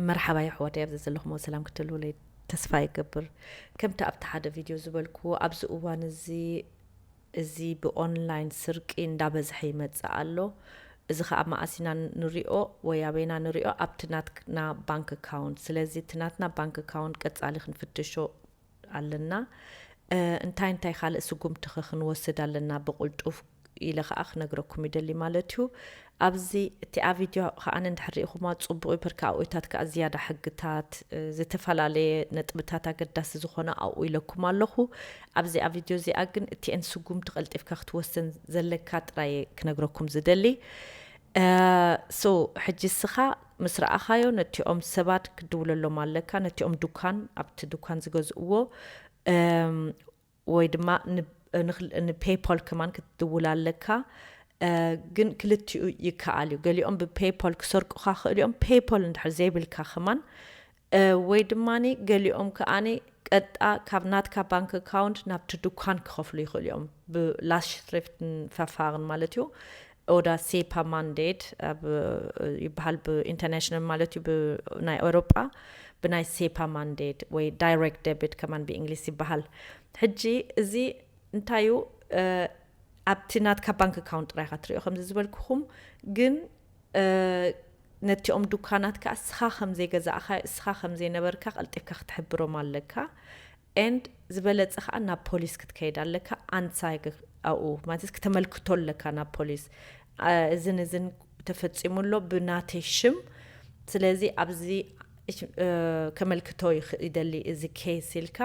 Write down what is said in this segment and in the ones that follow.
መርሓባ የሕዋተይ ኣብዚ ዘለኹሞ ሰላም ክትህልውለይ ተስፋ ይገብር ከምቲ ኣብቲ ሓደ ቪድዮ ዝበልክዎ ኣብዚ እዋን እዚ እዚ ብኦንላይን ስርቂ እንዳበዝሐ ይመጽእ ኣሎ እዚ ከዓ መኣሲና ንሪኦ ወይ ኣበይና ንሪኦ ኣብቲ ናትና ባንክ ኣካውንት ስለዚ እቲ ናትና ባንክ ኣካውንት ቀጻሊ ክንፍትሾ ኣለና እንታይ እንታይ ካልእ ስጉምቲኸ ክንወስድ ኣለና ብቕልጡፍ ኢለ ከኣ ክነግረኩም ይደሊ ማለት እዩ ኣብዚ እቲኣ ቪድዮ ከኣ እንድሕር ሪኢኹማ ፅቡቅ ብርኪ ኣብኡታት ከኣ ዝያዳ ሕግታት ዝተፈላለየ ነጥብታት ኣገዳሲ ዝኾነ ኣብኡ ኢለኩም ኣለኹ ኣብዚኣ ቪድዮ እዚኣ ግን እቲኤን ስጉምቲ ቀልጢፍካ ክትወስን ዘለካ ጥራየ ክነግረኩም ዝደሊ ሶ ሕጂ እስኻ ምስ ረኣኻዮ ነቲኦም ሰባት ክትድውለሎም ኣለካ ነቲኦም ዱካን ኣብቲ ዱካን ዝገዝእዎ ወይ ድማ ንፔይፖል ከማን ክትድውል ኣለካ ግን ክልቲኡ ይከኣል እዩ ገሊኦም ብፔይፖል ክሰርቁካ ክእል እዮም ፔይፖል እንድሕር ዘይብልካ ከማን ወይ ድማ ገሊኦም ከኣ ቀጥጣ ካብ ናትካ ባንክ ኣካውንት ናብቲ ድኳን ክኸፍሉ ይኽእሉ እዮም፣ ብ Lastschrift Verfahren ማለት እዩ፣ oder SEPA Mandate ኣብ ይበሃል ብ International ማለት እዩ ብ ናይ ኤውሮጳ ብናይ SEPA Mandate ወይ Direct Debit ከማን ብ English ይበሃል። ሕጂ እዚ እንታይ እዩ ኣብቲ ናትካ ባንክ ኣካውንት ጥራይ ኢኻ ትርእዮ ከምዚ ዝበልኩኹም ግን ነቲኦም ዱካናት ከኣ እስኻ ከም ዘይገዛእኻዮ እስኻ ከም ዘይነበርካ ቀልጢፍካ ክትሕብሮም ኣለካ and ዝበለጸ ከኣ ናብ ፖሊስ ክትከይድ ኣለካ ኣንሳይግ ኣብኡ ማለት ክተመልክቶ ኣለካ ናብ ፖሊስ እዝን እዝን ተፈጺሙ ኣሎ ብናተይ ሽም ስለዚ ኣብዚ ከመልክቶ ይደሊ እዚ ኬስ ኢልካ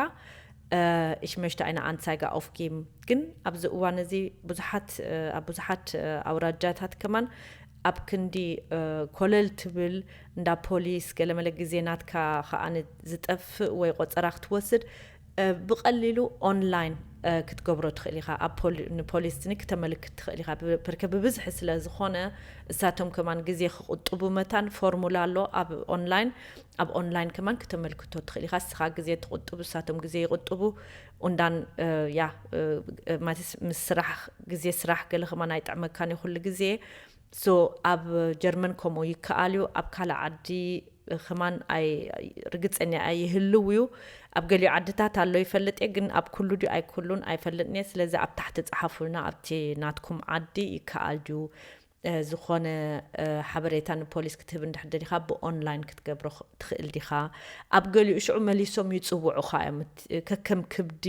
እሽ መሽተ ኣይነ ኣንሳይጋ ኦፍ ጊም ግን ኣብዚ እዋን እዚ ብዙሓት ኣብ ብዙሓት ኣውራጃታት ከማን ኣብ ክንዲ ኮለል ትብል እንዳ ፖሊስ ገለመለ ግዜ ናትካ ከኣ ዝጠፍእ ወይ ቆፀራ ክትወስድ ብቀሊሉ ኦንላይን ክትገብሮ ትክእል ኢካ ኣብ ንፖሊስኒ ክተመልክት ትክእል ኢካ ብርከ ብብዝሒ ስለ ዝኮነ እሳቶም ከማን ግዜ ክቁጥቡ መታን ፎርሙላ ኣሎ ኣብ ኦንላይን ኣብ ኦንላይን ከማን ክተመልክቶ ትክእል ኢካ እስካ ግዜ ትቁጥቡ እሳቶም ግዜ ይቁጥቡ ኡንዳን ያ ማለት ምስ ስራሕ ግዜ ስራሕ ገለ ከማን ኣይጥዕመካን እዩ ኩሉ ግዜ So ኣብ ጀርመን ከምኡ ይከኣል እዩ ኣብ ካልእ ዓዲ ከማን ኣይ ርግጸኛ ኣይ ይህልው እዩ ኣብ ገሊኡ ዓድታት ኣሎ ይፈልጥ እየ ግን ኣብ ኩሉ ድዩ ኣይኩሉን ኣይፈልጥን እየ ስለዚ ኣብ ታሕቲ ጸሓፉልና ኣብቲ ናትኩም ዓዲ ይከኣል ድዩ ዝኾነ ሓበሬታ ንፖሊስ ክትህብ እንድሕር ደሊኻ ብኦንላይን ክትገብሮ ትኽእል ዲኻ ኣብ ገሊኡ ሽዑ መሊሶም ይጽውዑኻ እዮም ከከም ክብዲ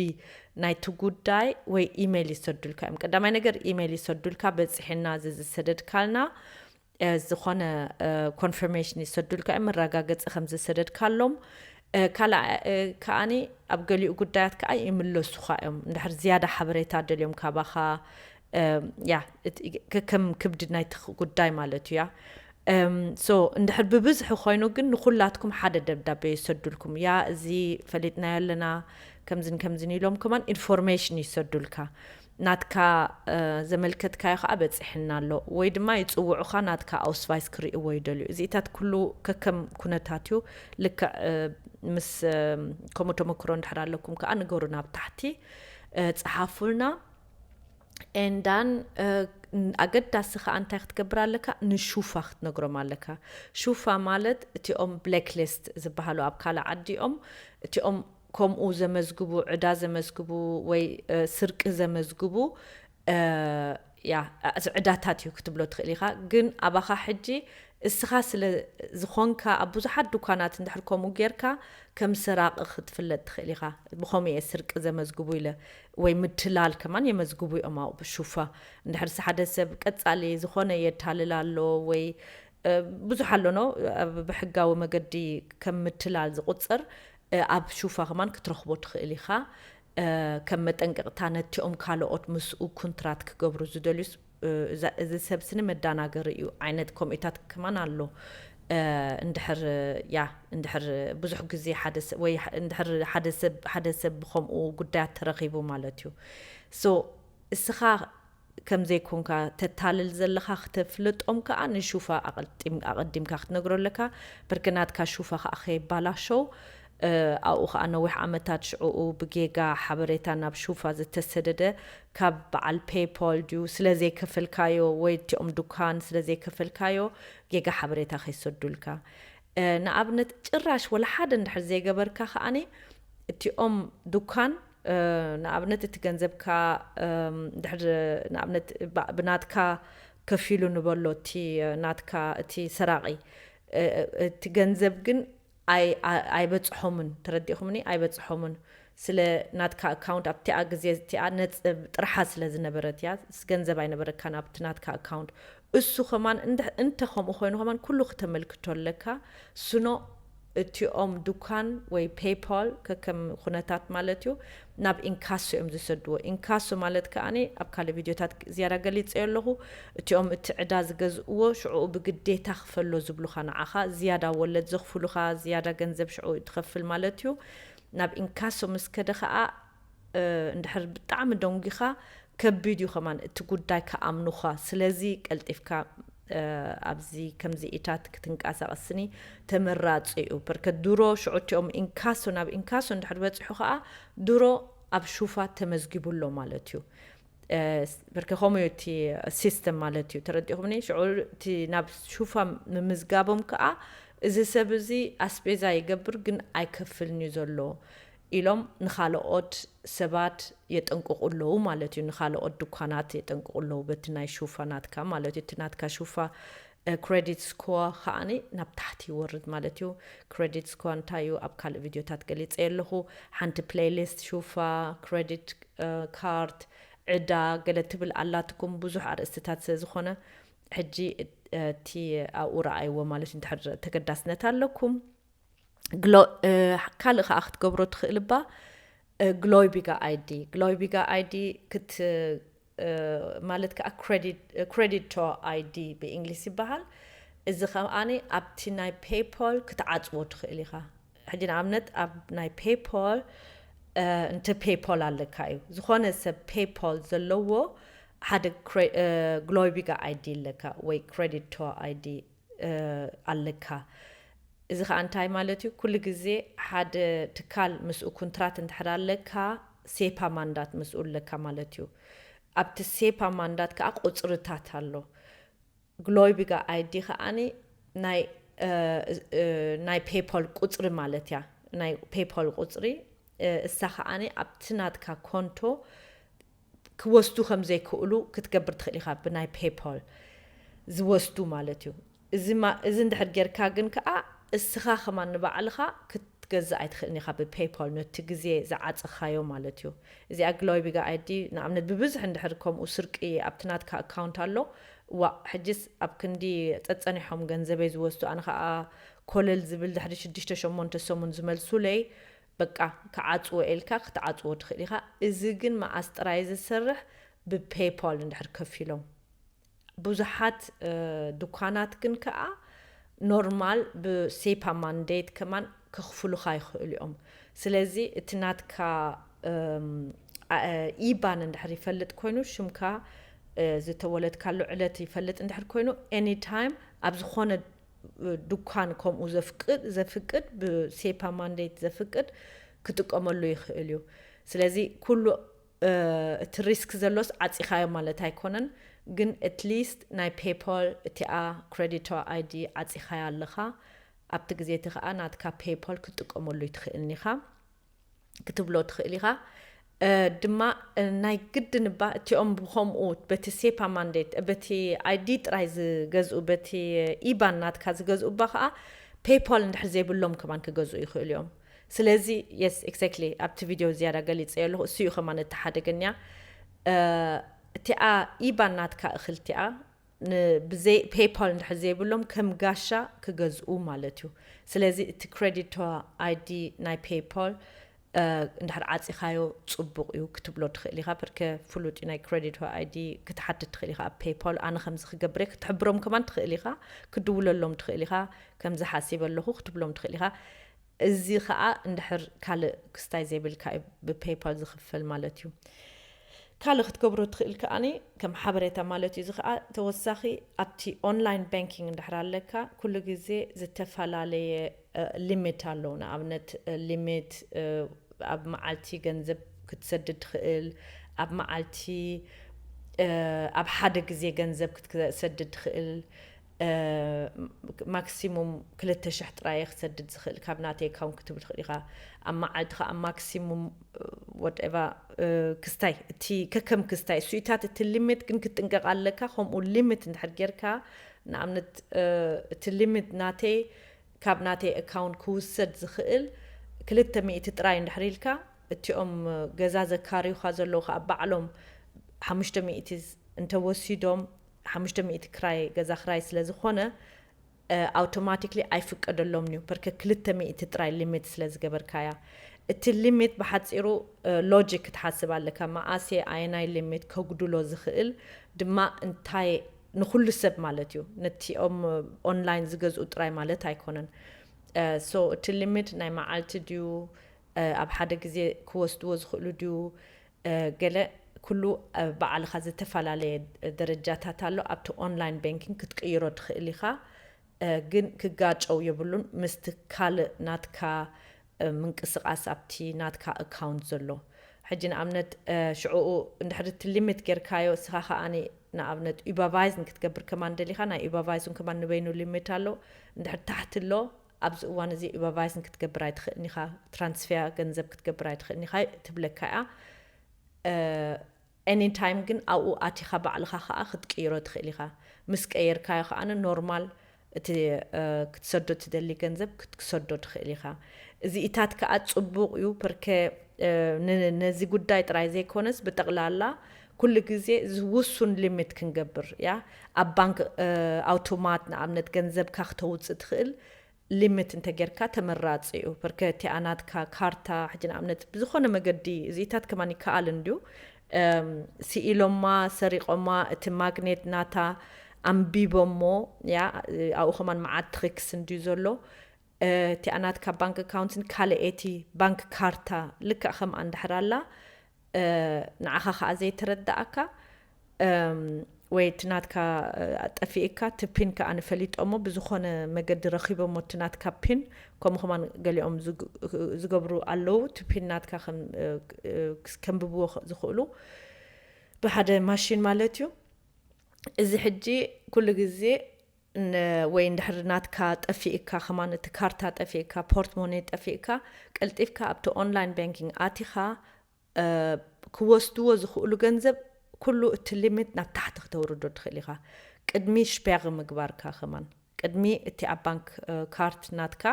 ናይቲ ጉዳይ ወይ ኢመይል ይሰዱልካ እዮም ቀዳማይ ነገር ኢመይል ይሰዱልካ በፂሕና እዚ ዝሰደድካልና ዝኾነ ኮንፈርሜሽን ይሰዱልካ እዮም መረጋገፂ ከም ዝሰደድካሎም ካልእ ከዓኒ ኣብ ገሊኡ ጉዳያት ከዓ ይምለሱኻ እዮም እንድሕር ዝያዳ ሓበሬታ ደልዮም ካባኻ ያ ከከም ክብዲ ናይቲ ጉዳይ ማለት እዩ ያ ሶ እንድሕር ብብዝሒ ኮይኑ ግን ንኩላትኩም ሓደ ደብዳቤ ይሰዱልኩም ያ እዚ ፈሊጥናዮ ኣለና ከምዝን ከምዝን ኢሎም ከማን ኢንፎርሜሽን ይሰዱልካ ናትካ ዘመልከትካዮ ከዓ በፂሕና ኣሎ ወይ ድማ ይፅውዑኻ ናትካ ኣውስቫይስ ክርእዎ ይደልዩ እዚኢታት ኩሉ ከከም ኩነታት እዩ ልክዕ ምስ ከምኡ ተመክሮ እንድሕር ኣለኩም ከዓ ንገሩና ኣብ ታሕቲ ፀሓፉልና ኤንዳን ኣገዳሲ ከዓ እንታይ ክትገብር ኣለካ ንሹፋ ክትነግሮም ኣለካ ሹፋ ማለት እቲኦም ብላክሊስት ዝበሃሉ ኣብ ካልእ ዓዲ እዮም እቲኦም ከምኡ ዘመዝግቡ ዕዳ ዘመዝግቡ ወይ ስርቂ ዘመዝግቡ ያ ዕዳታት እዩ ክትብሎ ትኽእል ኢኻ ግን ኣባኻ ሕጂ እስኻ ስለ ዝኾንካ ኣብ ብዙሓት ድኳናት እንድሕር ከምኡ ጌርካ ከም ሰራቒ ክትፍለጥ ትኽእል ኢኻ ብኸምኡ እየ ስርቂ ዘመዝግቡ ኢለ ወይ ምትላል ከማን የመዝግቡ እዮም ኣብኡ ብሹፋ እንድሕርሲ ሓደ ሰብ ቀጻሊ ዝኾነ የታልል ኣሎ ወይ ብዙሕ ኣሎኖ ኣብ ብሕጋዊ መገዲ ከም ምትላል ዝቑጽር ኣብ ሹፋ ከማን ክትረኽቦ ትኽእል ኢኻ ከም መጠንቀቕታ ነቲኦም ካልኦት ምስኡ ኩንትራት ክገብሩ ዝደልዩስ እዚ ሰብ ስኒ መዳናገሪ እዩ ዓይነት ኮሜታት ከማን ኣሎ እንድሕር ያ እንድሕር ብዙሕ ግዜ ሓደ ሰብ ወይ እንድሕር ሓደ ሰብ ሓደ ሰብ ብከምኡ ጉዳያት ተረኪቡ ማለት እዩ so እስኻ ከም ዘይኮንካ ተታልል ዘለኻ ክተፍልጦም ከኣ ንሹፋ ኣቐዲምካ ክትነግሮ ኣለካ በርከ ናትካ ሹፋ ከኣ ከየባላሸው ኣብኡ ከኣ ነዊሕ ዓመታት ሽዕኡ ብጌጋ ሓበሬታ ናብ ሹፋ ዝተሰደደ ካብ በዓል ፔይፖል ድዩ ስለ ዘይከፈልካዮ ወይ እቲኦም ዱካን ስለ ዘይከፈልካዮ ጌጋ ሓበሬታ ከይሰዱልካ ንኣብነት ጭራሽ ወላ ሓደ እንድሕር ዘይገበርካ ከኣ እቲኦም ዱካን ንኣብነት እቲ ገንዘብካ እንድሕር ንኣብነት ብናትካ ከፊሉ ንበሎ እቲ ናትካ እቲ ሰራቒ እቲ ገንዘብ ግን ኣይበጽሖምን ተረዲእኹምኒ ኣይበጽሖምን ስለ ናትካ ኣካውንት ኣብቲኣ ግዜ እቲኣ ነጽብ ጥርሓ ስለ ዝነበረት እያ ገንዘብ ኣይነበረካን ኣብቲ ናትካ ኣካውንት እሱ ከማን እንተ ከምኡ ኮይኑ ከማን ኩሉ ክተመልክቶ ኣለካ ስኖ እቲኦም ዱካን ወይ ፔይፓል ከከም ኩነታት ማለት እዩ ናብ ኢንካሶ እዮም ዝሰድዎ። ኢንካሶ ማለት ከኣ ኣብ ካልእ ቪድዮታት ዝያዳ ገሊጸዮ ኣለኹ። እቲኦም እቲ ዕዳ ዝገዝእዎ ሽዕኡ ብግዴታ ክፈሎ ዝብሉኻ ንዓኻ ዝያዳ ወለድ ዘኽፍሉኻ ዝያዳ ገንዘብ ሽዕኡ ትኸፍል ማለት እዩ። ናብ ኢንካሶ ምስ ከደ ከኣ እንድሕር ብጣዕሚ ደንጒኻ ከቢድ እዩ ከማን እቲ ጉዳይ ክኣምኑኻ ስለዚ ቀልጢፍካ ኣብዚ ከምዚኢታት ክትንቃሳቀስኒ ተመራጺ እዩ ፐርከ ድሮ ሽዑ እቲኦም ኢንካሶ ናብ ኢንካሶ እንድሕር በጺሑ ከኣ ድሮ ኣብ ሹፋት ተመዝጊቡ ኣሎ ማለት እዩ ፐርከ ከምኡ እዩ እቲ ሲስተም ማለት እዩ ተረዲኹምኒ ሽዑ እቲ ናብ ሹፋ ምምዝጋቦም ከኣ እዚ ሰብ እዚ ኣስቤዛ ይገብር ግን ኣይከፍልን እዩ ዘሎ ኢሎም ንኻልኦት ሰባት የጠንቅቑ ኣለዉ ማለት እዩ። ንኻልኦት ድኳናት የጠንቅቑ ኣለዉ በቲ ናይ ሹፋ ናትካ ማለት እዩ። እቲ ናትካ ሹፋ ክረዲት ስኮር ከኣ ናብ ታሕቲ ይወርድ ማለት እዩ። ክረዲት ስኮር እንታይ እዩ ኣብ ካልእ ቪድዮታት ገሊጸዮ ኣለኹ። ሓንቲ ፕለይሊስት ሹፋ፣ ክረዲት ካርድ፣ ዕዳ ገለ ትብል ኣላትኩም ብዙሕ ኣርእስትታት ስለ ዝኾነ ሕጂ እቲ ኣብኡ ረኣይዎ ማለት እዩ እንድሕር ተገዳስነት ኣለኩም። ካልእ ከዓ ክትገብሮ ትኽእል እባ ግሎይቢጋ ኣይዲ ግሎይቢጋ ኣይዲ ክት ማለት ከዓ ክሬዲቶ ኣይዲ ብእንግሊስ ይበሃል እዚ ከኣ ኣብቲ ናይ ፔይፖል ክትዓፅዎ ትኽእል ኢኻ ሕጂ ንኣብነት ኣብ ናይ ፔይፖል እንተ ፔይፖል ኣለካ እዩ ዝኾነ ሰብ ፔይፖል ዘለዎ ሓደ ግሎይቢጋ ኣይዲ ኣለካ ወይ ክሬዲቶ ኣይዲ ኣለካ እዚ ከኣ እንታይ ማለት እዩ ኩሉ ግዜ ሓደ ትካል ምስኡ ኩንትራት እንድሕር ኣለካ ሴፓ ማንዳት ምስኡ ኣለካ ማለት እዩ ኣብቲ ሴፓ ማንዳት ከኣ ቁጽርታት ኣሎ ግሎይቢጋ ኣይዲ ከኣኒ ናይ ናይ ፔፖል ቁጽሪ ማለት እያ ናይ ፔፖል ቁጽሪ እሳ ከኣኒ ኣብቲ ናትካ ኮንቶ ክወስዱ ከም ዘይክእሉ ክትገብር ትኽእል ኢኻ ብናይ ፔይፖል ዝወስዱ ማለት እዩ እዚ እዚ እንድሕር ጌርካ ግን ከኣ እስኻ ከማን ንባዕልኻ ክትገዝእ ኣይትኽእልን ኢኻ ብፔይፖል ነቲ ግዜ ዝዓጸኻዮ ማለት እዩ እዚኣ ግሎይቢጋ ኣይዲ ንኣብነት ብብዝሒ እንድሕር ከምኡ ስርቂ ኣብቲ ናትካ ኣካውንት ኣሎ ዋእ ሕጂስ ኣብ ክንዲ ጸጸኒሖም ገንዘበይ ዝወስዱ ኣነ ከኣ ኮለል ዝብል ድሕሪ ሽዱሽተ ሸሞንተ ሰሙን ዝመልሱለይ በቃ ክዓጽዎ ኢልካ ክትዓጽዎ ትኽእል ኢኻ እዚ ግን መዓስ ጥራይ ዝስርሕ ብፔይፖል እንድሕር ከፊሎም ብዙሓት ዱኳናት ግን ከኣ ኖርማል ብሴፓ ማንዴት ከማን ከኽፍሉኻ ይኽእሉ እዮም ስለዚ እቲ ናትካ ኢባን እንድሕር ይፈልጥ ኮይኑ ሽምካ ዝተወለድካሉ ዕለት ይፈልጥ እንድሕር ኮይኑ ኤኒ ታይም ኣብ ዝኾነ ዱኳን ከምኡ ዘፍቅድ ብሴፓ ማንዴት ዘፍቅድ ክጥቀመሉ ይኽእል እዩ ስለዚ ኩሉ እቲ ሪስክ ዘሎስ ዓጺኻዮ ማለት ኣይኮነን ግን ኣትሊስት ናይ ፔፓል እቲኣ ክረዲቶ ኣይዲ ዓጺኻያ ኣለኻ ኣብቲ ግዜ እቲ ከኣ ናትካ ፔፓል ክትጥቀመሉ ይትኽእልኒኻ ክትብሎ ትኽእል ኢኻ። ድማ ናይ ግድን እባ እቲኦም ብከምኡ በቲ ሴፓ ማንዴት በቲ ኣይዲ ጥራይ ዝገዝኡ በቲ ኢባን ናትካ ዝገዝኡ እባ ከዓ ፔይፓል እንድሕር ዘይብሎም ከማን ክገዝኡ ይኽእሉ እዮም። ስለዚ የስ ኤግዛክትሊ ኣብቲ ቪድዮ ዝያዳ ገሊፀዮ ኣለኹ እሱ እዩ ከማን እቲ ሓደገኛ እቲኣ ኢባን ናትካ እኽልቲኣ ን ብዘይ ፔይፓል እንድሕር ዘይብሎም ከም ጋሻ ክገዝኡ ማለት እዩ ስለዚ እቲ ክረዲቶ ኣይዲ ናይ ፔይፓል እንድሕር ዓጺኻዮ ጽቡቕ እዩ ክትብሎ ትኽእል ኢኻ ብርከ ፍሉጥ እዩ ናይ ክረዲቶ ኣይዲ ክትሓትት ትኽእል ኢኻ ኣብ ፔይፓል ኣነ ከምዚ ክገብር እየ ክትሕብሮም ከማን ትኽእል ኢኻ ክድውለሎም ትኽእል ኢኻ ከምዚ ሓሲበ ኣለኹ ክትብሎም ትኽእል ኢኻ እዚ ከኣ እንድሕር ካልእ ክስታይ ዘይብልካ እዩ ብፔይፓል ዝኽፈል ማለት እዩ። ካልእ ክትገብሮ እትኽእል ከኣ ከም ሓበሬታ ማለት እዩ እዚ ከኣ ተወሳኺ ኣብቲ ኦንላይን ባንኪንግ እንድሕር ኣለካ ኩሉ ግዜ ዝተፈላለየ ሊሚት ኣለዉ ንኣብነት ሊሚት ኣብ መዓልቲ ገንዘብ ክትሰድድ ትኽእል ኣብ መዓልቲ ኣብ ሓደ ግዜ ገንዘብ ክትሰድድ ትኽእል ማክሲሙም ክልተ ሽሕ ጥራየ ክሰድድ ዝኽእል ካብ ናተይ ኣካውንት ክትብል ትኽእል ኢኻ ኣብ መዓልቲ ከዓ ማክሲሙም ወደቫ ክስታይ እቲ ከከም ክስታይ እሱኢታት እቲ ሊሚት ግን ክትጥንቀቕ ኣለካ ከምኡ ሊሚት እንድሕር ጌርካ ንኣብነት እቲ ሊሚት ናተይ ካብ ናተይ ኣካውንት ክውሰድ ዝኽእል ክልተ ሚእቲ ጥራይ እንድሕር ኢልካ እቲኦም ገዛ ዘካርዩኻ ዘለዉ ከዓ ባዕሎም ሓሙሽተ ሚእቲ እንተወሲዶም ሓሙሽተ ሚእቲ ክራይ ገዛ ክራይ ስለ ዝኾነ ኣውቶማቲክሊ ኣይፍቀደሎምን እዩ ፐርከ ክልተ ሚእቲ ጥራይ ሊሚት ስለ ዝገበርካያ እቲ ሊሚት ብሓፂሩ ሎጂክ ክትሓስብ ኣለካ መኣስየ ኣየናይ ሊሚት ከጉድሎ ዝኽእል ድማ እንታይ ንኩሉ ሰብ ማለት እዩ ነቲኦም ኦንላይን ዝገዝኡ ጥራይ ማለት ኣይኮነን ሶ እቲ ሊሚት ናይ መዓልቲ ድዩ ኣብ ሓደ ግዜ ክወስድዎ ዝኽእሉ ድዩ ገለ ኩሉ ባዕልኻ ዘተፈላለየ ደረጃታት ኣሎ ኣብቲ ኦንላይን በንኪንግ ክትቅይሮ ትኽእል ኢኻ ግን ክጋጨው የብሉን ምስቲ ካልእ ናትካ ምንቅስቃስ ኣብቲ ናትካ ኣካውንት ዘሎ ሕጂ ንኣብነት ሽዑኡ እንድሕሪ እቲ ሊሚት ጌርካዮ እስኻ ከኣ ንኣብነት ኡበቫይዝ ንክትገብር ከማን ደሊኻ ናይ ኡበቫይዝ ከማን ንበይኑ ሊሚት ኣሎ እንድሕሪ ታሕቲ ኣሎ ኣብዚ እዋን እዚ ኡበርቫይስን ክትገብር ኣይትኽእልን ኢኻ፣ ትራንስፌር ገንዘብ ክትገብር ኣይትኽእልን ኢኻ ትብለካ እያ። ኤኒ ታይም ግን ኣብኡ ኣቲኻ ባዕልኻ ከኣ ክትቅይሮ ትኽእል ኢኻ። ምስ ቀየርካዮ ከኣ ኖርማል እቲ ክትሰዶ እትደሊ ገንዘብ ክትሰዶ ትኽእል ኢኻ። እዚኢታት ከኣ ጽቡቕ እዩ ፐርከ ነዚ ጉዳይ ጥራይ ዘይኮነስ ብጠቕላላ ኩሉ ግዜ ውሱን ሊሚት ክንገብር እያ ኣብ ባንክ ኣውቶማት ንኣብነት ገንዘብካ ክተውጽእ ትኽእል ሊሚት እንተጌርካ ተመራጺ እዩ ፐርከ እቲኣ ናትካ ካርታ ሕጂ ንኣብነት ብዝኾነ መገዲ እዚታት ከማን ይከኣል እንድዩ ስኢሎማ ሰሪቆማ እቲ ማግኔት ናታ ኣንቢቦሞ ያ ኣብኡ ከማን መዓት ትሪክስ እንድዩ ዘሎ እቲኣ ናትካ ባንክ ኣካውንትን ካልኤቲ ባንክ ካርታ ልክዕ ከምኣ እንድሕር ኣላ ንዓኻ ከኣ ዘይተረደኣካ ወይ እቲ ናትካ ጠፊእካ እቲ ፒን ከኣ ንፈሊጦሞ ብዝኾነ መገዲ ረኺቦሞ እቲ ናትካ ፒን ከምኡ ከማን ገሊኦም ዝገብሩ ኣለው እቲ ፒን ናትካ ከንብብዎ ዝኽእሉ ብሓደ ማሽን ማለት እዩ እዚ ሕጂ ኩሉ ግዜ ን ወይ እንድሕር ናትካ ጠፊእካ ከማን እቲ ካርታ ጠፊእካ ፖርት ሞኔ ጠፊእካ ቀልጢፍካ ኣብቲ ኦንላይን ባንኪንግ ኣቲካ ክወስድዎ ዝክእሉ ገንዘብ ኩሉ እቲ ሊሚት ናብ ታሕቲ ክተውርዶ ትክእል ኢካ ቅድሚ ሽፔግ ምግባርካ ከማን ቅድሚ እቲ ኣብ ባንክ ካርት ናትካ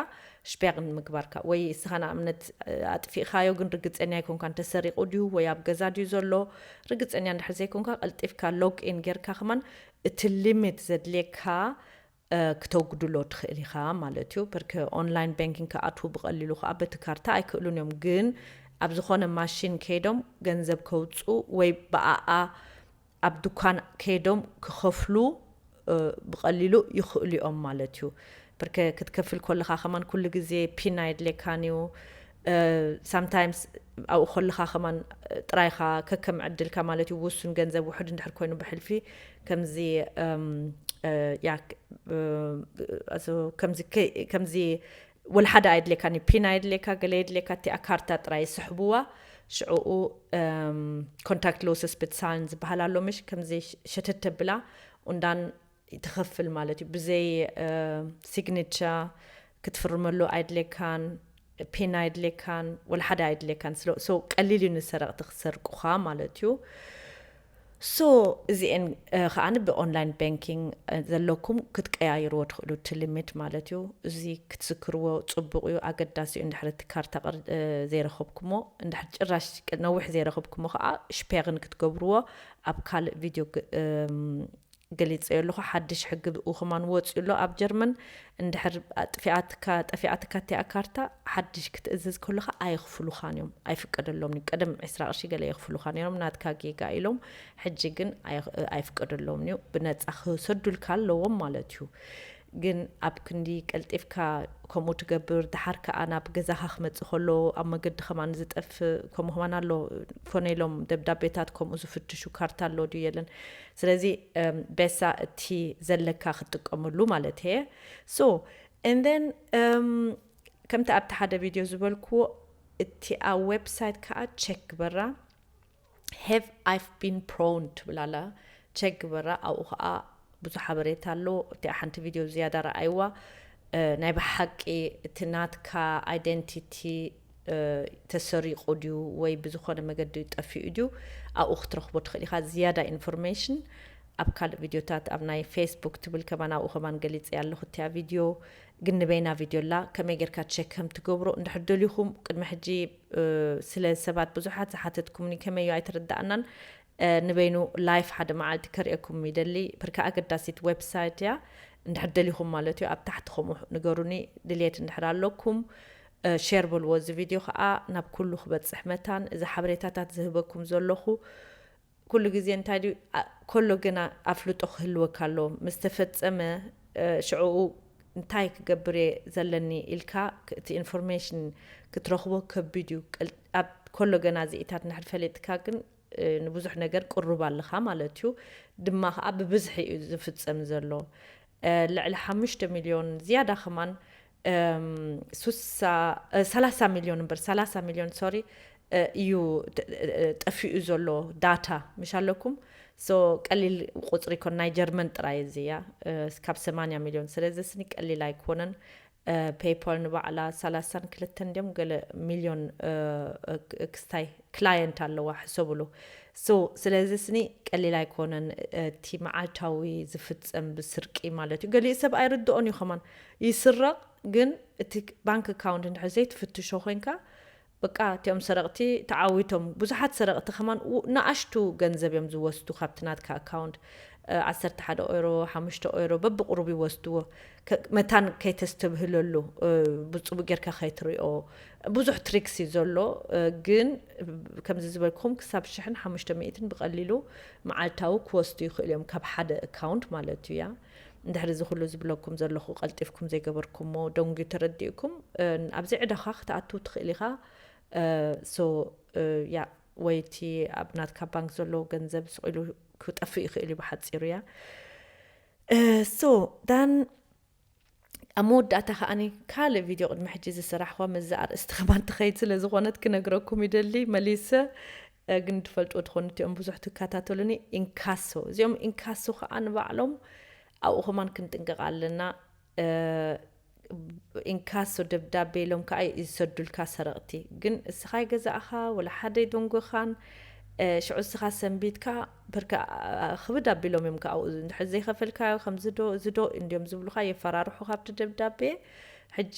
ሽፔግ ንምግባርካ ወይ እስካ ንኣብነት ኣጥፊእካዮ ግን ርግጸንያ ኣይኮንካን ተሰሪቁ ድዩ ወይ ኣብ ገዛ ድዩ ዘሎ ርግጸንያ እንድሕር ዘይኮንካ ቀልጢፍካ ሎግ ኢን ጌርካ ከማን እቲ ሊሚት ዘድልየካ ክተጉድሎ ትኽእል ኢኻ ማለት እዩ። ብርክ ኦንላይን ባንኪንግ ክኣትዉ ብቐሊሉ ከኣ በቲ ካርታ ኣይክእሉን እዮም። ግን ኣብ ዝኾነ ማሺን ከይዶም ገንዘብ ከውጽኡ ወይ ብኣኣ ኣብ ዱካን ከይዶም ክኸፍሉ ብቐሊሉ ይኽእሉ እዮም ማለት እዩ። ብርክ ክትከፍል ኮለኻ ከማን ኩሉ ግዜ ፒን ኣየድልየካን እዩ። ሳምታይምስ ኣብኡ ከለኻ ከማን ጥራይኻ ከከም ዕድልካ ማለት እዩ ውሱን ገንዘብ ውሕድ እንድሕር ኮይኑ ብሕልፊ ከምዚ ከምዚ ወላ ሓደ ኣየድልየካኒ ፒን ኣየድልየካ ገለ የድልየካ እቲኣ ካርታ ጥራይ ይስሕብዋ ሽዕኡ ኮንታክት ሎስስ ብትሳን ዝበሃል ኣሎ ምሽ ከምዚ ሸተት ተብላ ኡንዳን ትኸፍል ማለት እዩ ብዘይ ሲግኒቸ ክትፍርመሉ ኣይድሌካን ፔን ኣይድሌካን ወላ ሓደ ኣይድሌካን ሶ ቀሊል እዩ ንሰረቕቲ ክሰርቁኻ ማለት እዩ ሶ እዚኤን ከዓ ብኦንላይን ባንኪንግ ዘለኩም ክትቀያይርዎ ትኽእሉ እቲ ሊሚት ማለት እዩ እዚ ክትዝክርዎ ፅቡቅ እዩ ኣገዳሲ እዩ እንድሕር እቲ ካርታ ዘይረኸብኩሞ እንድሕር ጭራሽ ነዊሕ ዘይረኸብኩሞ ከዓ ሽፔርን ክትገብርዎ ኣብ ካልእ ቪድዮ ገሊጸዮ ኣለኹ ሓድሽ ሕጊ ብ ኹማን ወጽዩ ኣሎ ኣብ ጀርመን እንድሕር ኣጥፊኣትካ ጠፊኣትካ እቲኣ ካርታ ሓድሽ ክትእዝዝ ከሎኻ ኣይኽፍሉኻን እዮም ኣይፍቀደሎምን እዩ ቅድም ዕስራ ቅርሺ ገለ የኽፍሉኻ ነይሮም ናትካ ጌጋ ኢሎም ሕጂ ግን ኣይፍቀደሎምን እዩ ብነጻ ክሰዱልካ ኣለዎም ማለት እዩ ግን ኣብ ክንዲ ቀልጢፍካ ከምኡ ትገብር ድሓር ከዓ ናብ ገዛኻ ክመፅእ ከሎ ኣብ መገዲ ከማን ዝጠፍእ ከምኡ ከማን ኣሎ ኮነ ኢሎም ደብዳቤታት ከምኡ ዝፍትሹ ካርታ ኣሎ ድዩ የለን ስለዚ ቤሳ እቲ ዘለካ ክትጥቀመሉ ማለት እየ so and then ከምቲ ኣብቲ ሓደ ቪድዮ ዝበልክዎ እቲኣ ዌብሳይት ከዓ ቸክ ግበራ have I've been prone ትብል ኣላ ቸክ ግበራ ኣብኡ ከዓ ብዙ ሓበሬታ ኣሎ እቲኣ ሓንቲ ቪድዮ ዝያዳ ረኣይዋ ናይ ብሓቂ እቲ ናትካ ኣይደንቲቲ ተሰሪቁ ድዩ ወይ ብዝኮነ መገዲ ጠፊኡ ድዩ ኣብኡ ክትረክቦ ትክእል ኢካ ዝያዳ ኢንፎርሜሽን ኣብ ካልእ ቪድዮታት ኣብ ናይ ፌስቡክ ትብል ከማን ኣብኡ ከማን ገሊጸያ ኣለኩ እቲያ ቪድዮ ግን ንበይና ቪድዮ ኣላ ከመይ ጌርካ ቸክ ከም ትገብሮ እንድሕር ደሊኩም ቅድሚ ሕጂ ስለ ሰባት ብዙሓት ዝሓተትኩምኒ ከመይ እዩ ኣይተረዳኣናን ንበይኑ ላይፍ ሓደ መዓልቲ ከርእየኩም ይደሊ ብርካ ኣገዳሲት ዌብሳይት እያ እንድሕር ደሊኩም ማለት እዩ ኣብ ታሕቲ ከምኡ ንገሩኒ ድልየት እንድሕር ኣለኩም ሼር በልዎ እዚ ቪድዮ ከኣ ናብ ኩሉ ክበጽሕ መታን እዚ ሓበሬታታት ዝህበኩም ዘለኹ ኩሉ ግዜ እንታይ ድዩ ከሎ ግና ኣፍልጦ ክህልወካ ኣለዎ ምስ ተፈጸመ ሽዕኡ እንታይ ክገብር እየ ዘለኒ ኢልካ እቲ ኢንፎርሜሽን ክትረኽቦ ከቢድ እዩ ኣብ ከሎ ገና እዚኢታት እንድሕር ፈሊጥካ ግን ንብዙሕ ነገር ቅሩብ ኣለኻ ማለት እዩ ድማ ከዓ ብብዝሒ እዩ ዝፍጸም ዘሎ ልዕሊ ሓሙሽተ ሚልዮን ዝያዳ ከማን ሰላሳ ሚልዮን እምበር ሰላሳ ሚልዮን ሶሪ እዩ ጠፊኡ ዘሎ ዳታ ምሽ ኣለኩም ሶ ቀሊል ቁፅሪ ኮን ናይ ጀርመን ጥራይ እዚ እያ ካብ ሰማንያ ሚልዮን ስለዚ ስኒ ቀሊል ኣይኮነን ፔይፓል ንባዕላ ሰላሳን ክልተን ድዮም ገለ ሚልዮን ክስታይ ክላየንት ኣለዋ ሕሰብሉ so ስለዚ ስኒ ቀሊል ኣይኮነን እቲ መዓልታዊ ዝፍጸም ብስርቂ ማለት እዩ ገሊኡ ሰብ ኣይርድኦን እዩ ከማን ይስረቕ ግን እቲ ባንክ ኣካውንት እንድሕር ዘይትፍትሾ ኮይንካ በቃ እቲኦም ሰረቕቲ ተዓዊቶም ብዙሓት ሰረቕቲ ከማን ንኣሽቱ ገንዘብ እዮም ዝወስዱ ካብቲ ናትካ ኣካውንት ዓሰርተ ሓደ ኦይሮ ሓሙሽተ ኦይሮ በብቕሩብ ይወስድዎ መታን ከይተስተብህለሉ ብጽቡ ጌርካ ከይትሪኦ ብዙሕ ትሪክስ እዩ ዘሎ ግን ከምዚ ዝበልኩም ክሳብ ሽሕን ሓሙሽተ ሚእትን ብቀሊሉ መዓልታዊ ክወስዱ ይኽእሉ እዮም ካብ ሓደ ኣካውንት ማለት እዩ ያ እንድሕሪ እዚ ኩሉ ዝብለኩም ዘለኹ ቀልጢፍኩም ዘይገበርኩምዎ ደንጉዩ ተረዲእኩም ኣብዚ ዕዳኻ ክትኣትው ትኽእል ኢኻ ሶ ያ ወይ እቲ ኣብ ናትካ ባንክ ዘሎ ገንዘብ ስቂሉ ክጠፍእ ይኽእል እዩ ብሓፂሩ እያ So Dan ኣብ መወዳእታ ከዓኒ ካልእ ቪድዮ ቅድሚ ሕጂ ዝሰራሕኳ ምስዚ ኣርእስቲ ከማን ትኸይድ ስለ ዝኾነት ክነግረኩም ይደሊ መሊሰ ግን ትፈልጥዎ ትኾኑ እቲኦም ብዙሕ ትከታተሉኒ ኢንካሶ እዚኦም ኢንካሶ ከዓ ንባዕሎም ኣብኡ ከማን ክንጥንቀቕ ኣለና ኢንካሶ ደብዳቤ ኢሎም ከኣ ይሰዱልካ ሰረቅቲ ግን እስኻ ኣይገዛእኻ ወላ ሓደ ኣይደንጎኻን ሽዑ እስኻ ሰንቢትካ ብርካ ክብድ ኣቢሎም እዮም ከኣ እንድሕር ዘይኸፈልካዮ ከምዝዶ እዝዶ እንዲዮም ዝብሉኻ የፈራርሑኻ ኣብቲ ደብዳቤ ሕጂ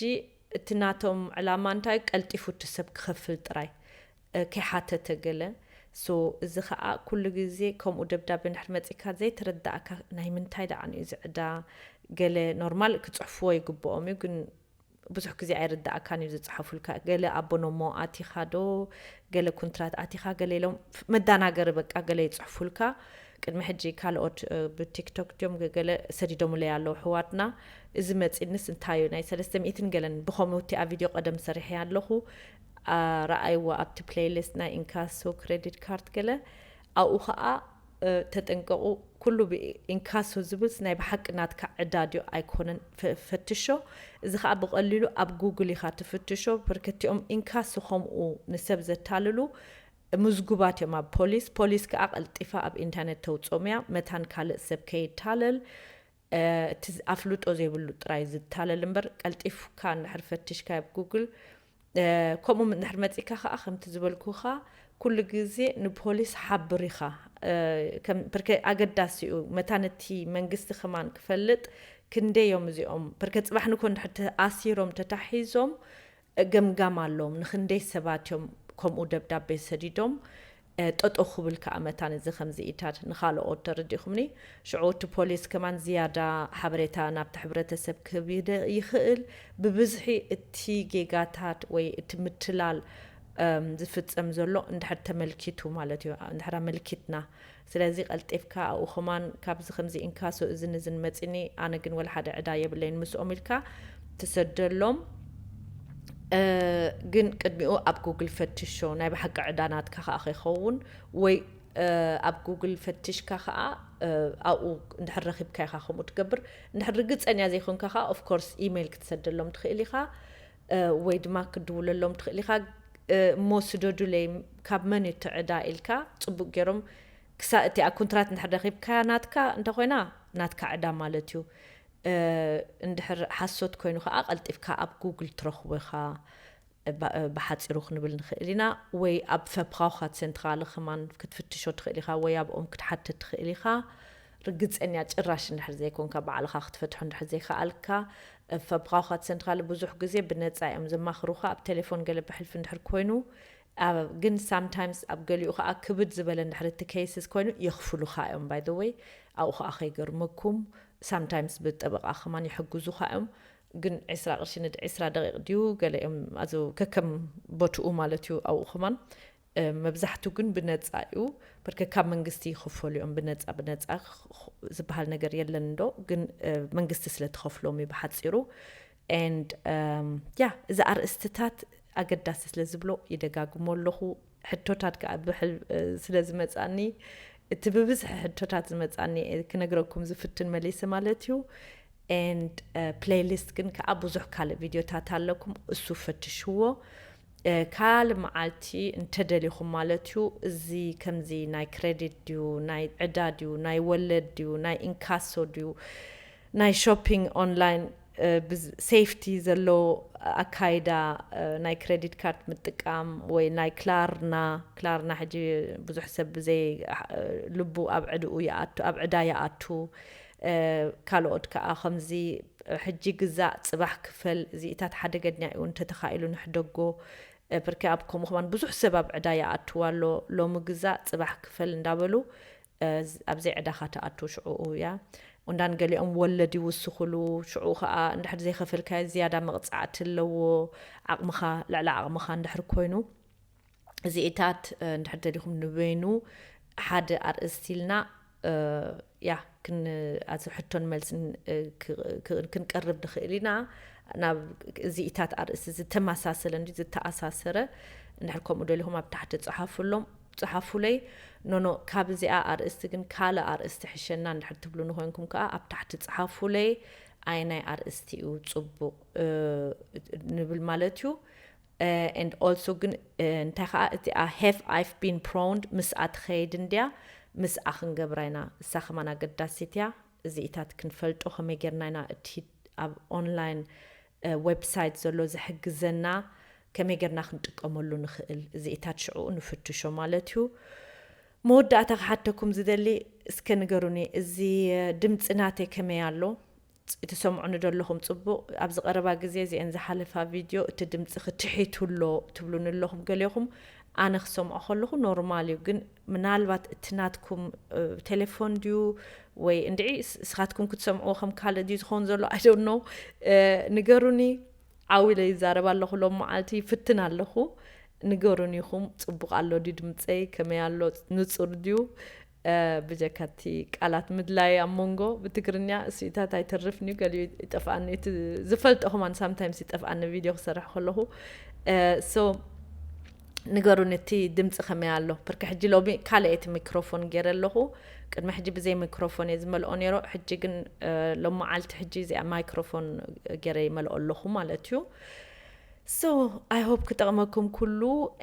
እቲ ናቶም ዕላማ እንታይ ቀልጢፉ እቲ ሰብ ክኸፍል ጥራይ ከይሓተተ ገለ so እዚ ከኣ ኩሉ ግዜ ከምኡ ደብዳቤ እንድሕር መጺካ ዘይተረዳኣካ ናይ ምንታይ ደኣን እዩ እዚ ዕዳ ገለ ኖርማል ክጽሕፍዎ ይግብኦም እዩ ግን ብዙሕ ግዜ ኣይርዳኣካን እዩ ዝጽሓፉልካ ገለ ኣቦኖሞ ኣቲካ ዶ ገለ ኩንትራት ኣቲካ ገለ ኢሎም መዳናገሪ በቃ ገለ ይጽሕፉልካ ቅድሚ ሕጂ ካልኦት ብቲክቶክ ድዮም ገለ ሰዲዶምለይ ኣለዉ ሕዋትና እዚ መፂንስ እንታዩ ናይ ሰለስተ ሚእትን ገለን ብከምኡ እቲኣ ቪድዮ ቀደም ሰሪሐ ኣለኹ ራኣይዋ ኣብቲ ፕለይ ልስት ናይ ኢንካሶ ክረዲት ካርድ ገለ ኣብኡ ካኣ ተጠንቀቁ ኩሉ ብ ኢንካሶ ዝብልስ ናይ ብሓቂ ናትካ ዕዳ ድዩ ኣይኮነን ፈትሾ እዚ ካኣ ብቀሊሉ ኣብ ጉግል ኢካ ትፍትሾ በርከቲኦም ኢንካሶ ከምኡ ንሰብ ዘታልሉ ምዝጉባት እዮም ኣብ ፖሊስ ፖሊስ ካኣ ቀልጢፋ ኣብ ኢንተርነት ተውጾም እያ መታን ካልእ ሰብ ከይታለል እቲ ኣፍልጦ ዘይብሉ ጥራይ ዝታለል እምበር ቀልጢፍካ እንድሕር ፈቲሽካ ኣብ ጉግል ከምኡ እንድሕር መጺካ ከዓ ከምቲ ዝበልኩካ ኩሉ ግዜ ንፖሊስ ሓብር ኢኻ ብርከ ኣገዳሲ እዩ መታን እቲ መንግስቲ ከማን ክፈልጥ ክንደይ እዮም እዚኦም ብርከ ፅባሕ ንኮ እንድሕር ተኣሲሮም ተታሒዞም ገምጋም ኣሎዎም ንክንደይ ሰባት እዮም ከምኡ ደብዳቤ ሰዲዶም ጠጠው ክብል ከኣ መታን እዚ ከምዚ ኢታት ንካሎኦት ተረዲኩምኒ ሽዑ እቲ ፖሊስ ከማን ዝያዳ ሓበሬታ ናብቲ ሕብረተሰብ ክህብ ይክእል ብብዝሒ እቲ ጌጋታት ወይ እቲ ምትላል ዝፍጸም ዘሎ እንድሕር ተመልኪቱ ማለት እዩ እንድሕር ኣመልኪትና ስለዚ ቀልጢፍካ ኣብኡ ከማን ካብዚ ከምዚ እንካሶ እዝን እዝን መጺኒ ኣነ ግን ወላ ሓደ ዕዳ የብለይን ምስኦም ኢልካ ትሰደሎም ግን ቅድሚኡ ኣብ ጉግል ፈትሾ ናይ ብሓቂ ዕዳ ናትካ ከኣ ከይከውን ወይ ኣብ ጉግል ፈትሽካ ከኣ ኣብኡ እንድሕር ረኺብካ ኢኻ ከምኡ ትገብር እንድሕር ርግጸኛ ዘይኮንካ ከኣ ኦፍ ኮርስ ኢሜይል ክትሰደሎም ትኽእል ኢኻ ወይ ድማ ክትድውለሎም ትኽእል ኢኻ እሞ ስደዱለይ ካብ መን እዩ እቲ ዕዳ ኢልካ ጽቡቅ ጌሮም ክሳእ እቲኣ ኩንትራት እንድሕር ረኺብካያ ናትካ እንተኾይና ናትካ ዕዳ ማለት እዩ እንድሕር ሓሶት ኮይኑ ከኣ ቀልጢፍካ ኣብ ጉግል ትረኽቦ ኢኻ ብሓጺሩ ክንብል ንኽእል ኢና ወይ ኣብ ፈፕራውኻት ሴንትራለ ከማን ክትፍትሾ ትኽእል ኢኻ ወይ ኣብኦም ክትሓትት ትኽእል ኢኻ ርግጸኛ ጭራሽ እንድሕር ዘይኮንካ ባዕልኻ ክትፈትሖ እንድሕር ዘይከኣልካ ፈብራውኻት ሰንትራለ ብዙሕ ግዜ ብነጻ እዮም ዘማኽሩኻ ኣብ ቴሌፎን ገለ ብሕልፊ እንድሕር ኮይኑ ግን ሳም ታይምስ ኣብ ገሊኡ ከኣ ክብድ ዝበለ እንድሕር እቲ ኬይስስ ኮይኑ የኽፍሉኻ እዮም ባይ ዘ ወይ ኣብኡ ከኣ ከይገርመኩም ሳም ታይምስ ብጠበቓ ከማን ይሕግዙኻ እዮም ግን ዕስራ ቅርሺ ንድ ዕስራ ደቂቕ ድዩ ገለ እዮም ኣዚ ከከም ቦትኡ ማለት እዩ ኣብኡ ከማን መብዛሕቱ ግን ብነፃ እዩ ብርክ ካብ መንግስቲ ይኽፈሉ እዮም ብነፃ ብነፃ ዝበሃል ነገር የለን እንዶ ግን መንግስቲ ስለ ትኸፍሎም እዩ ብሓፂሩ ኤንድ ያ እዚ ኣርእስትታት ኣገዳሲ ስለ ዝብሎ ይደጋግሞ ኣለኹ ሕቶታት ከዓ ብሕል ስለ ዝመፃኒ እቲ ብብዝሒ ሕቶታት ዝመፃኒ ክነግረኩም ዝፍትን መሊሲ ማለት እዩ ኤንድ ፕሌይሊስት ግን ከዓ ብዙሕ ካልእ ቪድዮታት ኣለኩም እሱ ፈትሽዎ ካልእ መዓልቲ እንተደሊኹም ማለት እዩ እዚ ከምዚ ናይ ክረዲት ድዩ ናይ ዕዳ ድዩ ናይ ወለድ ድዩ ናይ ኢንካሶ ድዩ ናይ ሾፒንግ ኦንላይን ብሴፍቲ ዘለዎ ኣካይዳ ናይ ክረዲት ካርድ ምጥቃም ወይ ናይ ክላርና ክላርና ሕጂ ብዙሕ ሰብ ብዘይ ልቡ ኣብ ዕድኡ ይኣቱ ኣብ ዕዳ ይኣቱ ካልኦት ከኣ ከምዚ ሕጂ ግዛእ ጽባሕ ክፈል እዚኢታት ሓደገኛ ኢዩ እንተ ተኻኢሉ ንሕደጎ ብርኪ ኣብ ከምኡ ከማን ብዙሕ ሰብ ኣብ ዕዳ ይኣትው ኣሎ ሎሚ ግዛእ ጽባሕ ክፈል እንዳ በሉ ኣብዘይ ዕዳኻ ትኣቱ ሽዑኡ እያ ኡንዳን ገሊኦም ወለድ ይውስኹሉ ሽዑኡ ከኣ እንድሕር ዘይከፈልካዮ ዝያዳ መቕጻዕቲ ኣለዎ ዓቕምኻ ልዕሊ ዓቕምኻ እንድሕር ኮይኑ እዚኢታት እንድሕር ደሊኹም ንበይኑ ሓደ ኣርእስቲ ኢልና ያ ኣብዚ ሕቶን መልስን ክንቀርብ ንኽእል ኢና ናብ እዚኢታት ኣርእስቲ ዝተመሳሰለ እንዲ ዝተኣሳሰረ እንድሕር ከምኡ ደሊኹም ኣብ ታሕቲ ፀሓፍሎም ፀሓፉለይ ኖኖ ካብ እዚኣ ኣርእስቲ ግን ካልእ ኣርእስቲ ሕሸና እንድሕር ትብሉ ንኮይንኩም ከዓ ኣብ ታሕቲ ፀሓፉለይ ኣይናይ ኣርእስቲ እዩ ፅቡቕ ንብል ማለት እዩ and also ግን እንታይ ከኣ እቲኣ have I've been proned ምስኣ ትኸይድ እንድያ ምስኣ ክንገብራ ኢና እሳ ከማን ኣገዳሲት እያ እዚኢታት ክንፈልጦ ከመይ ጌርና ኢና እቲ ኣብ ኦንላይን ዌብሳይት ዘሎ ዝሕግዘና ከመይ ጌርና ክንጥቀመሉ ንኽእል እዚኢታት ሽዕኡ ንፍትሾ ማለት እዩ መወዳእታ ክሓተኩም ዝደሊ እስከ ንገሩኒ እዚ ድምፂ ናተይ ከመይ ኣሎ ጽ ትሰምዑኒ ዶ ኣለኹም ጽቡቕ ኣብዚ ቀረባ ግዜ እዚኤን ዝሓለፋ ቪድዮ እቲ ድምጽኺ ትሒት ኣሎ ትብሉኒ ኣለኹም ገሌኹም ኣነ ክሰምዖ ከለኹ ኖርማል እዩ ግን ምናልባት እቲ ናትኩም ቴሌፎን ድዩ ወይ እንድዒ ስኻትኩም ክትሰምዕዎ ከም ካልእ ድዩ ዝኸውን ዘሎ ኣይዶን ኖ ንገሩኒ ዓው ኢለ ይዛረብ ኣለኹ ሎም መዓልቲ ይፍትን ኣለኹ ንገሩን ኢኹም ጽቡቕ ኣሎ ድዩ ድምፀይ ከመይ ኣሎ ንጹር ድዩ ብጀካ እቲ ቃላት ምድላይ ኣብ ሞንጎ ብትግርኛ እስይታት ኣይተርፍን እዩ ገሊኡ ይጠፍኣኒ እዩ እቲ ዝፈልጦ ከማን ሳምታይምስ ይጠፍኣኒ ቪድዮ ክሰርሕ ከለኹ ሶ ንገሩኒ እቲ ድምፂ ከመይ ኣሎ ብርኪ ሕጂ ሎሚ ካልእ እቲ ሚክሮፎን ገይረ ኣለኹ ቅድሚ ሕጂ ብዘይ ሚክሮፎን እየ ዝመልኦ ነይሮ ሕጂ ግን ሎመዓልቲ ሕጂ እዚኣ ማይክሮፎን ገይረ ይመልኦ ኣለኹ ማለት እዩ So I hope ክጠቕመኩም ኩሉ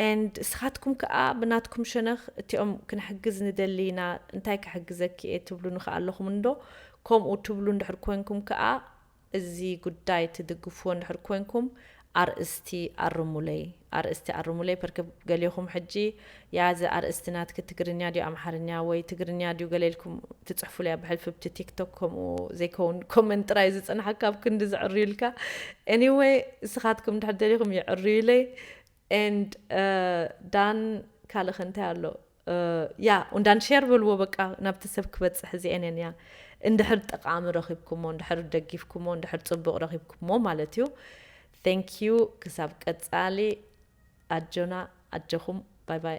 and እስኻትኩም ከኣ ብናትኩም ሸነኽ እቲኦም ክንሕግዝ ንደሊ ኢና እንታይ ክሕግዘኪ እየ ትብሉኒ ከኣ ኣለኹም እንዶ ከምኡ ትብሉ እንድሕር ኮንኩም ከኣ እዚ ጉዳይ ትድግፍዎ እንድሕር ኮንኩም ኣርእስቲ ኣርሙለይ ኣርእስቲ ኣርሙለይ ፐርክ ገሌኹም ሕጂ ያእ እዚ ኣርእስቲ ናትኪ ትግርኛ ድዩ ኣምሓርኛ ወይ ትግርኛ ድዩ ገለ ኢልኩም ትጽሕፉለይ ኣብ ሕልፊ ብቲ ቲክቶክ ከምኡ ዘይከውን ኮመንት ጥራይ ዝጸንሓካ ኣብ ክንዲ ዝዕርዩልካ anyway እስኻትኩም ድሕር ደሊኹም ይዕርዩለይ and ዳን ካልእ ከ እንታይ ኣሎ ያ እንዳን ሼር በልዎ በቃ ናብቲ ሰብ ክበጽሕ እዚኤን እየን ያ እንድሕር ጠቃሚ ረኺብኩሞ እንድሕር ደጊፍኩሞ እንድሕር ጽቡቅ ረኺብኩሞ ማለት እዩ Thank you ክሳብ ቀጻሊ ኣጆና ኣጆኹም ባይ ባይ።